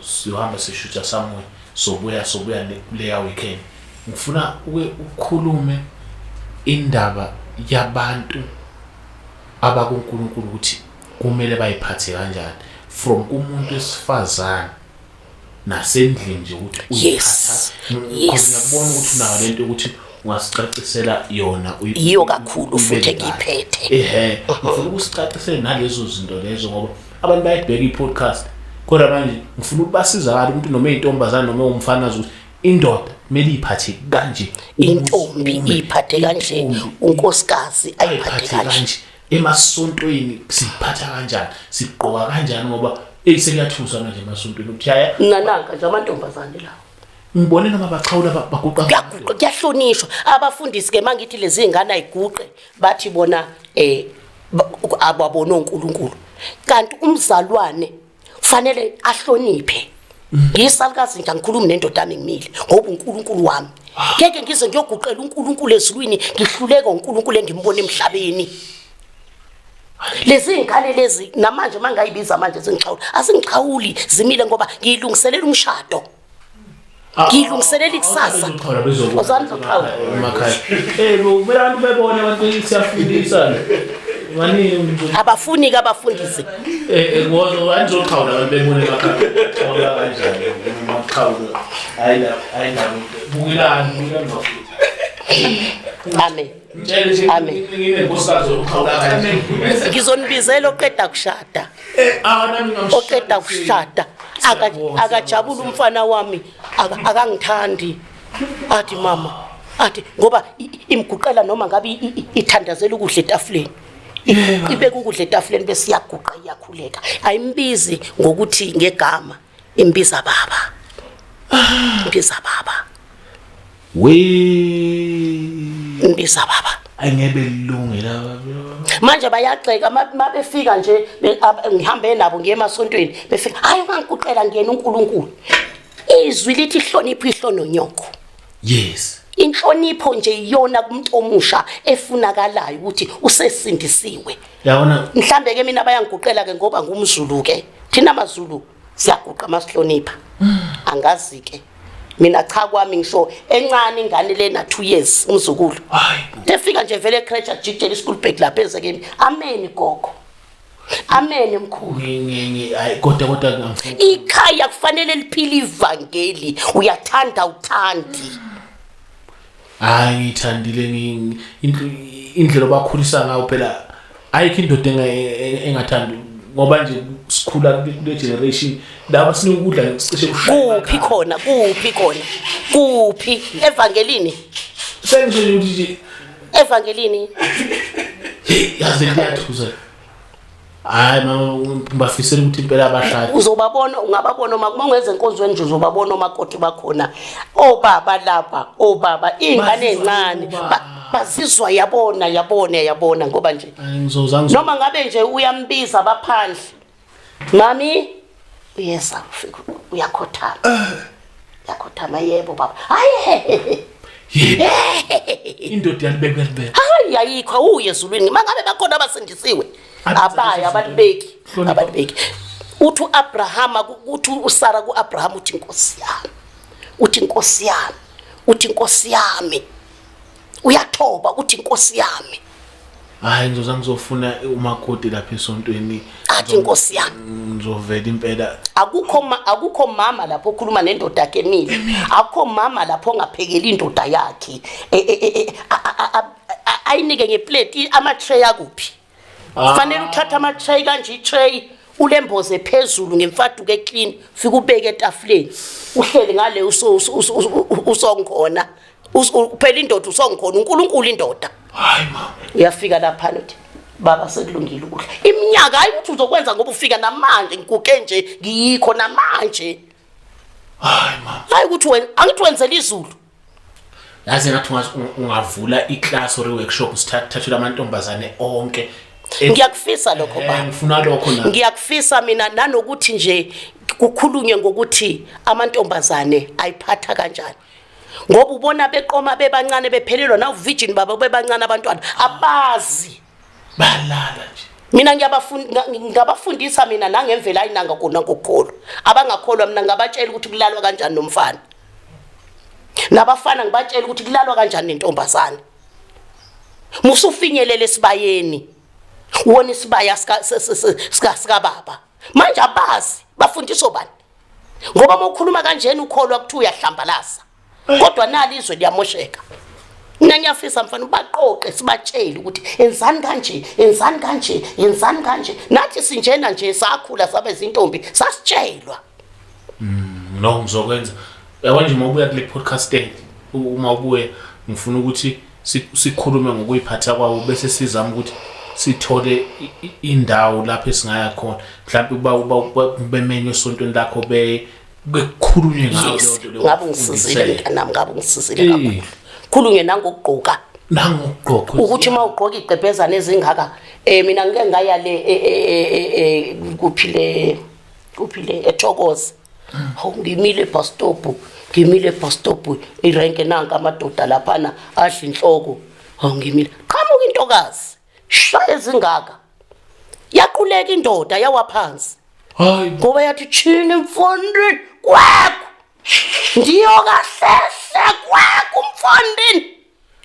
siyohamba sishutha somewhere sobuya sobuya kuleya weekend ngifuna ukhulume indaba yabantu abakuNkulunkulu ukuthi kumele bayiphathe kanjani from kumuntu wesifazane nasendlini nje ukuthi uyiphatha yes ngiyabona ukuthi nayo lento ukuthi ungasicacisela yona iyo kakhulu futhi ngiphethe ehe ngifuna ukusicacisela nalezo zinto lezo ngoba abantu bayibheka i-podcast kodwa manje ngifuna ukubasiza abantu ukuthi noma intombazana noma umfana ukuthi indoda kumele iphathe kanje intombi iphathe kanje unkosikazi ayiphathe kanje emasontweni siphatha kanjani sigqoka kanjani ngoba eyi sekuyathusa manje emasontweni ukuthi yaya nananka nje amantombazane lawo ngibone noma baxhawula baguqa kuyaguqa kuyahlonishwa abafundisi ke mangithi lezi ngane ayiguqe bathi bona eh ababona oNkulunkulu kanti umzalwane kufanele ahloniphe ngiyisalukazi nje angikhulumi nendoda yami ngimile ngoba uNkulunkulu wami ngeke ngize ngiyoguqela uNkulunkulu ezulwini ngihluleka uNkulunkulu engimbona emhlabeni lezi ngane lezi namanje mangayibiza manje zingixhawula asingixhawuli zimile ngoba ngiyilungiselela umshado Ah, ngilungiselela ikusasa ozani zoqhawe emakhaya eh kumele abantu bebone abantu siyafundisa abafuni ke abafundise eh, eh, angizoqhawu labantu bebone emakhaya kanjani maqhawu hayi la hayi la bukilani bukilani bafuthi amen Amen. Ngizonibizela oqeda kushada. Eh, ah, oqeda kushada. Akajabula umfana wami akangithandi. Athi mama, athi ngoba imguqela noma ngabe ithandazela ukudla etafuleni. Ibeka ukudla etafuleni bese iyaguqa iyakhuleka. Ayimbizi ngokuthi ngegama. Imbiza baba. Imbiza baba. We. Imbiza baba. Angebe lilunge la baba. Manje bayagxeka mabefika nje ngihambe nabo ngiye emasontweni befika hayi ungangikuqela ngiyena uNkulunkulu. Izwi lithi hlonipho ihlono nyoko. Yes. inhlonipho nje iyona kumuntu omusha efunakalayo ukuthi usesindisiwe yabona mhlambe ke mina bayangiguqela ke ngoba ngumzulu ke thina mazulu siyaguqa masihlonipha mm. angazi ke mina cha kwami ngisho encane ingane lena 2 years umzukulu efika nje vele ecreche ajijele ischool bag lapha ezekeni amen gogo amen mkhulu hayi kodwa kodwa ikhaya kufanele liphile ivangeli uyathanda uthandi mm. hayi ngiyithandile indlela obakhulisa ngayo phela ayikho indoda e, e, engathandi ngoba nje sikhula kule generation laba sinokudla sicishe kuphi khona kuphi khona kuphi evangelini sengisho ukuthi evangelini yazi liyathuza hayi ngibafisela ukuthi impela abashade uzobabona ungababona uma kungenza enkonzweni nje uzobabona omakoti bakhona obaba oh, lapha obaba oh, ingane encane bazizwa yabona yabona yabona ngoba nje noma ngabe nje uyambiza baphandle mami uyeza ufika uyakhothama yakhothama yebo baba hayi yini indoda yalibeka yalibeka hayi ayikho awuye ezulwini mangabe bakhona abasindisiwe abaye abalibeki abalibeki uthi uAbraham uthi uSara kuAbraham uthi inkosi yami uthi inkosi yami uthi inkosi yami uyathoba ukuthi inkosi yami hayi ngizoza ngizofuna umakoti lapha esontweni athi inkosi yami ngizovela impela akukho ma, akukho mama lapho okhuluma nendoda yakhe emile akukho mama lapho ongaphekeli indoda yakhe E- e- e- e- a- a- a- a- ayinike ngeplate ama-tray akuphi Ah. Fanele uthatha ama tray kanje i tray ulemboze phezulu ngemfaduko eclean fika ubeke etafuleni uhleli ngale usongikhona uphela indoda usongikhona uNkulunkulu indoda hayi mama uyafika lapha nothi baba sekulungile ukudla iminyaka hayi ukuthi uzokwenza ngoba ufika namanje ngikuke nje ngiyikho namanje hayi mama hayi ukuthi wena angithi wenzela izulu yazi ngathi ungavula iclass or workshop sithathelwa amantombazane onke ngiyakufisa lokho ba ngifuna lokho na ngiyakufisa mina nanokuthi nje kukhulunywe ngokuthi amantombazane ayiphatha kanjani ngoba ubona beqoma bebancane bephelelwa na uvirgin baba bebancane abantwana abazi balala nje mina ngiyabafundisa mina nangemvela ayinanga kona ngokukholwa abangakholwa mina ngabatshela ukuthi kulalwa kanjani nomfana nabafana ngibatshela ukuthi kulalwa kanjani nentombazane musufinyelele esibayeni wona isibaya sika sika sika baba manje abazi bafundiswa bani ngoba uma ukhuluma kanjena ukholwa ukuthi uyahlambalaza kodwa nali izwe liyamosheka mina ngiyafisa mfana ubaqoqe sibatshele ukuthi enzani kanje enzani kanje enzani kanje nathi sinjena nje sakhula sabe zintombi sasitshelwa mm, no ngizokwenza yabo nje uma ubuya kule podcast day uma ubuye ngifuna ukuthi sikhulume ngokuyiphatha kwawo bese sizama ukuthi sithole indawo lapho esingaya khona mhlawumbe uba uba bemenywe esontweni lakho be bekukhulunywe ngayo yes ngabe ngisizile mntanami ngabe ngisizile eh. kakhulu khulunywe nangokugqoka nangokugqoka ukuthi uma ugqoka igqebhezana ezingaka eh mina ngike ngaya le eh, eh, eh, kuphile kuphile ethokoze hawu hmm. ngimile bus stop ngimile bus stop irenke nanka amadoda laphana adla inhloko hawu ngimile qhamuka intokazi shaya ezingaka yaquleka indoda yawa phansi hayi ngoba yathi chini mfondini kwakho ndiyo kahlehla kwakho mfondini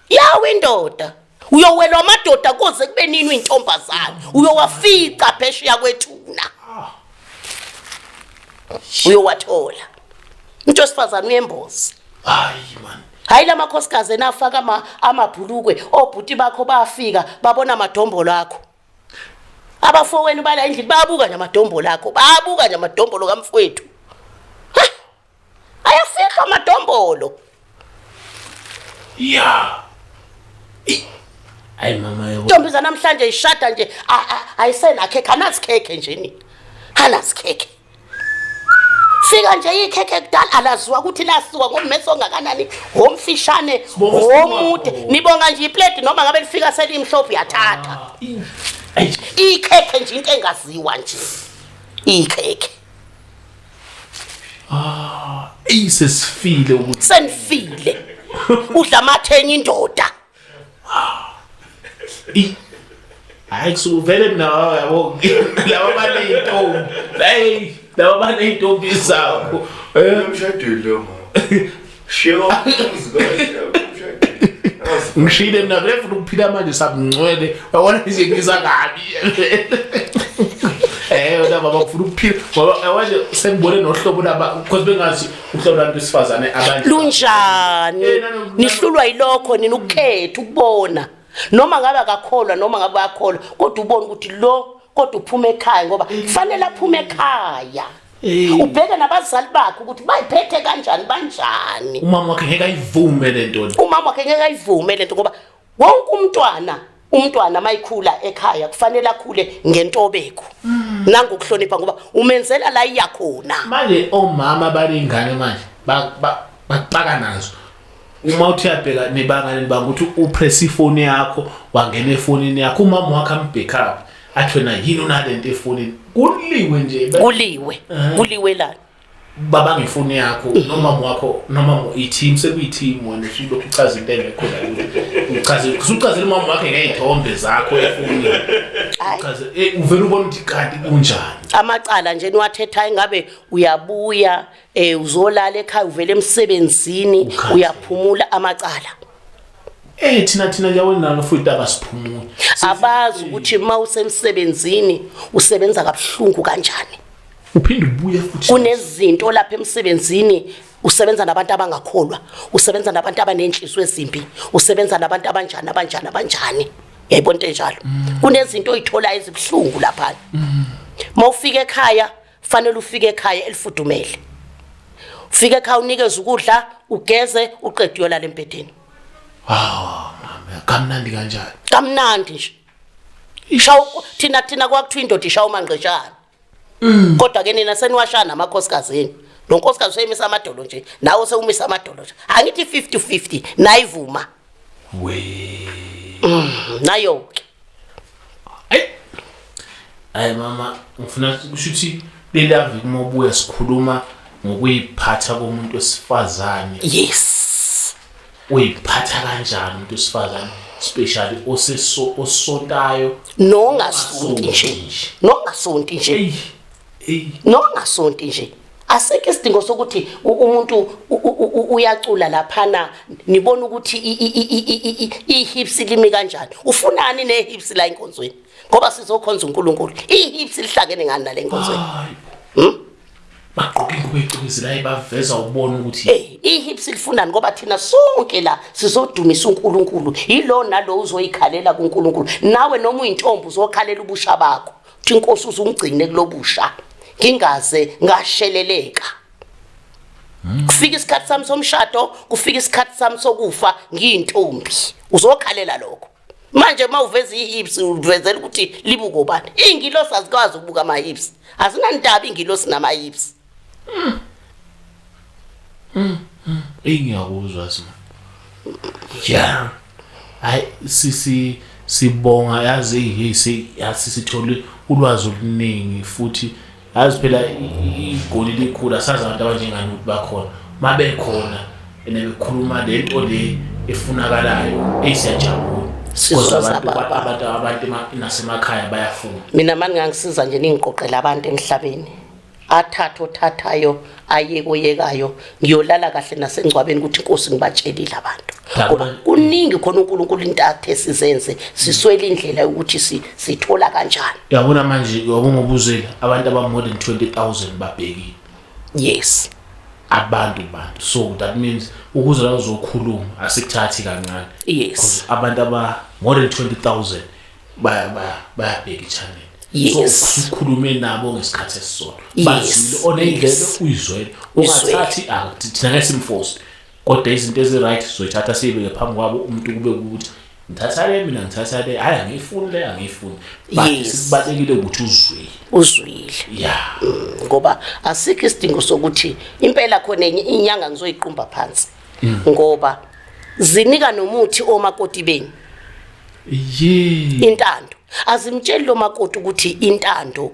yawa indoda uyowelwa amadoda kuze kube nini uyintombazane uyowafica phesheya kwethuna uyowathola umuntu wesifazane uyembozi hayi man hayi lamakhosikazi enafaka ama amabhulukwe obhuti bakho bafika babona amadombolo akho abafowenu bala endlini bayabuka nje amadombolo akho bayabuka nje amadombolo kamfowethu ayafihlwa amadombolo ya ayi mama yebo ntombi zanamhlanje ishada nje ayisenakhe khanazikhekhe nje nini hanazikhekhe fika nje ikhekhe kudala alaziwa ukuthi lasiwa ngomese ongakanani ngomfishane ngomude nibonga nje iplate noma ngabe lifika selimhlophe yathatha ah, ikhekhe nje into engaziwa nje ikhekhe ah isesifile ukuthi senifile udla amathenya indoda I Hayi kusuvele mina yabo laba baneyintombi. Hey laba baneyintombi zakho. Eh umshadile lo mama. Shiyo umzikho. ngishile mina vele funa ukuphila manje sabungcwele wabona nje ngiza kabi eh wena baba ufuna ukuphila ngoba wanje sengibone nohlobo laba because bengazi uhlelo lwabantu besifazane abanye lunjani eh, nihlulwa yilokho nina ukukhetha ukubona noma ngabe akakholwa noma ngabe akholwa kodwa ubona ukuthi lo kodwa uphuma ekhaya ngoba kufanele aphume ekhaya eh. ubheke nabazali bakhe ukuthi bayiphethe kanjani banjani umama wakhe ngeke ayivume lento umama wakhe ngeke ayivume lento ngoba wonke umntwana umntwana mayikhula ekhaya kufanele akhule ngentobeko mm. nangokuhlonipha ngoba umenzela la iya khona manje omama balingane manje baqaka nazo uma uthi uyabheka nebangane banga ukuthi upress ifoni yakho wangena efonini yakho umama wakhe ambackup athi wena yini unalento efonini kuliwe nje kuliwe kuliwe lana baba ngifuni yakho noma wakho noma i-team sekuyi-team wena usuke uchaza into engekho la uchaze usuchazela umama wakhe ngey'thombe zakho efuni uchaze eh, uvele ubona ukuthi kanti kunjani amacala nje niwathethayo ingabe uyabuya um uzolala ekhaya uvele emsebenzini uyaphumula amacala Eh thina thina yawonalo futhi abasiphumuli abazi ukuthi uma usemsebenzini usebenza kabuhlungu kanjani uphinde ubuye futhi kunezinto lapha emsebenzini usebenza nabantu abangakholwa usebenza nabantu abanenhliziyo ezimbi usebenza nabantu abanjani abanjani abanjani yayibona into enjalo mm. kunezinto oyithola ezibuhlungu lapha mm. mawufika ekhaya fanele ufike ekhaya elifudumele ufike ekhaya unikeze ukudla ugeze uqede uyolala embedeni wow mama kamnandi kanjani kamnandi nje ishawu thina thina kwakuthiwa indoda ishawu mangqetshana Mm. Kodwa ke nina seniwashana amakhosikazi yenu. Lo nkosikazi useyimisa amadolo nje, nawe sewumisa amadolo nje. Angithi 50 50 nayivuma. We. Mm, nayo ke. Ay. Ay mama, ngifuna ukuthi lelavi uma ubuya sikhuluma ngokuyiphatha komuntu wesifazane. Yes. uyiphatha kanjani umuntu wesifazane especially oseso osontayo nongasonti nje nongasonti nje nongasonti nje aseke isidingo sokuthi umuntu uyacula laphana nibona ukuthi ihips limi kanjani ufunani nehips la enkonzweni ngoba sizokhonza uNkulunkulu ihips lihlangene ngani nalenkonzweni bagqoke ingubo ecwezelayo baveza ubona ukuthi hey ihips lifunani ngoba thina sonke la sizodumisa uNkulunkulu yilo nalo uzoyikhalela kuNkulunkulu nawe noma uyintombi uzokhalela ubusha bakho uthi inkosi uzungcine kulobusha ngingaze ngasheleleka kufika isikhathi sami somshado kufika isikhathi sami sokufa ngiyintombi uzokhalela lokho manje uma uveza i-hips uvezela ukuthi libuko bani iy'ngilosi azikwazi ukubuka ama-hips azinandaba iy'ngilosi nama-hips mm. mm. mm. eyi ngiyakuzwa sima ya hayi sisi sibonga yazi hey sisithole ulwazi oluningi futhi Yazi phela igoli likhulu asazi abantu abanjengani ukuthi bakhona. Mabekhona ene bekhuluma lento le efunakalayo eyisiyajabula. Kodwa abantu abantu abantu nasemakhaya bayafuna. Mina mani ngangisiza nje ningiqoqela abantu emhlabeni. Athatha othathayo aye koyekayo ngiyolala kahle nasengcwabeni ukuthi inkosi ngibatshelile abantu kodwa kuningi khona uNkulunkulu into athe sizenze siswele indlela yokuthi sithola kanjani yabona manje ngokungobuzeli abantu aba more than 20000 babhekile yes abantu bantu so that means ukuze la uzokhuluma asikuthathi kancane yes abantu aba more than 20000 baya baya bayabheka ichannel yes. so ukhulume nabo ngesikhathi esisodwa yes. bazile onendlebe yes. uyizwele ungathathi act ah, thina ngesimforce kodwa izinto eziright sizoyithatha siyibeke phambi kwabo umuntu kube ukuthi ngithatha le mina ngithatha le hayi angiyifuni le angiyifuni but sibalekile ukuthi uzwile uzwile ya ngoba asikho isidingo sokuthi impela khona enye inyanga ngizoyiqumba phansi mm. ngoba zinika nomuthi omakoti beni yee intando azimtsheli lo makoti ukuthi intando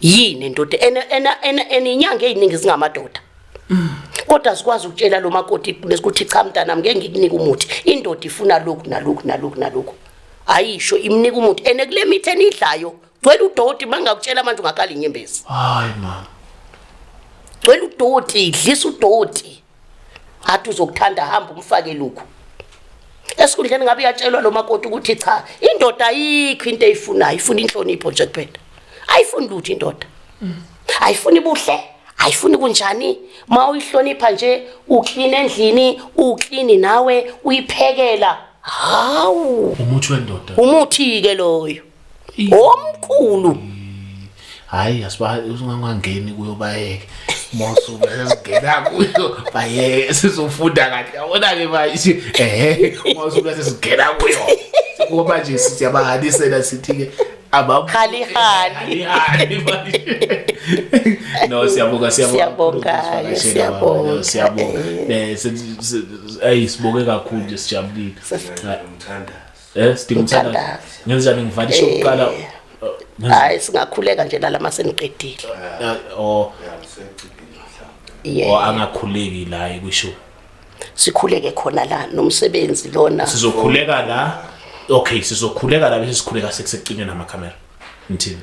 yini ndoda ena ena ena eninyanga eziningi zingamadoda kodwa sikwazi ukutshela lo makoti bekuthi cha mntanami ngeke ngikunika umuthi indoda ifuna lokhu nalokhu nalokhu nalokhu ayisho imnika umuthi ene kule mithi enidlayo gcwele udoti mangakutshela manje ungakhala inyembezi hayi mama gcwele udoti idlisa udoti athi uzokuthanda hamba umfake lokhu esikhundleni ngabe uyatshelwa lo makoti ukuthi cha indoda ayikho into eyifunayo ifuna inhlonipho nje kuphela ayifuni lutho indoda ayifuni buhle ayifuni kunjani ma uyihlonipha nje uklina endlini uklini nawe uyiphekela hawu umuthi wendoda umuthi ke loyo omkhulu hayi asibangangeni kuyo bayeke mosuku sesingena kuyo bayeke sizofunda kahle yabona-ke manje ehe mosuku sesingena kuyo ngoba nje siyabahanisela sithi-ke abahali no siyabonga siyabonga siyabonga siyabonga eh, eh sibonge kakhulu nje sijabulile Eh sidinga umthandazi. Ngenza njani ngivale isho kuqala? Eh. Uh, Hayi singakhuleka nje la lama seniqedile. Uh, oh. Yeah. Oh angakhuleki la ekusho. Sikhuleke khona la nomsebenzi lona. Sizokhuleka la. Okay, sizokhuleka la bese sikhuleka sekusecinwe nama camera. Ngithini?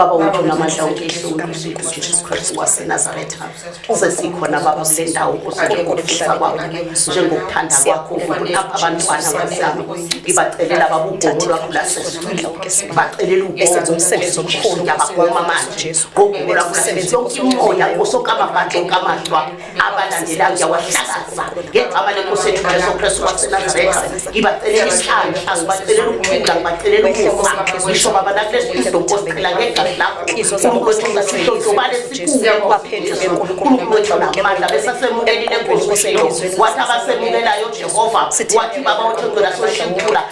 baba wethu namandla ujesu kristu wasenazaretha sesikhona baba kule ndawo kusakekokuhlisa kwabo njengokuthanda kwakho ukunapha abantwana bazami ngibacelela baba ugomo lwakho lasesibacelela ugomo umsebenzi omkhulu ngiyabagoma manje gqokula kusebenza yonke imona osokamabantu okamahlwa abalandela ngiyawahlakaza ngegama lenkosi ethu jesu kristu wasenazaretha ngibacelela isihlangu angibacelela ukuthula ngibacelela ukufa ngisho baba nakulesi ido nkosiqhela ngegxazi lakho unkulunkulu wethu ngasihlohlobale sikuwe unkulunkulu wethu namandla besasemukelile enkosi wathi abasemukelayo jehova wathi baba wethu ngcela soshintula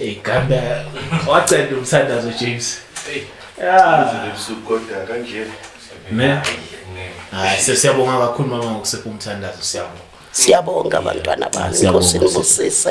igamba waceda umthandazo james hayi sesiyabonga kakhulu mama ngokusepha umthandazo siyabonga siyabonga abantwana bami inkosi nibusise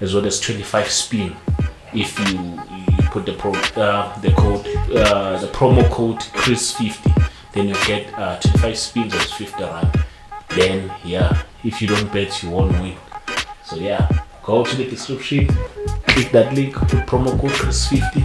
as well as 25 spin if you, you put the pro, uh, the code uh, the promo code Chris 50 then you get uh, 25 spins as 50 rand then yeah if you don't bet you won't win so yeah go to the description click that link put promo code Chris 50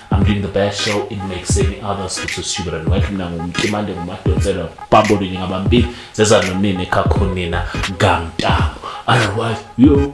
I'm doing the best show in make seni others which is super and welcome na ngumtimande ngumadonsela bambo ninyi ngabambili zeza nonini kakho nina ngamtamo otherwise yo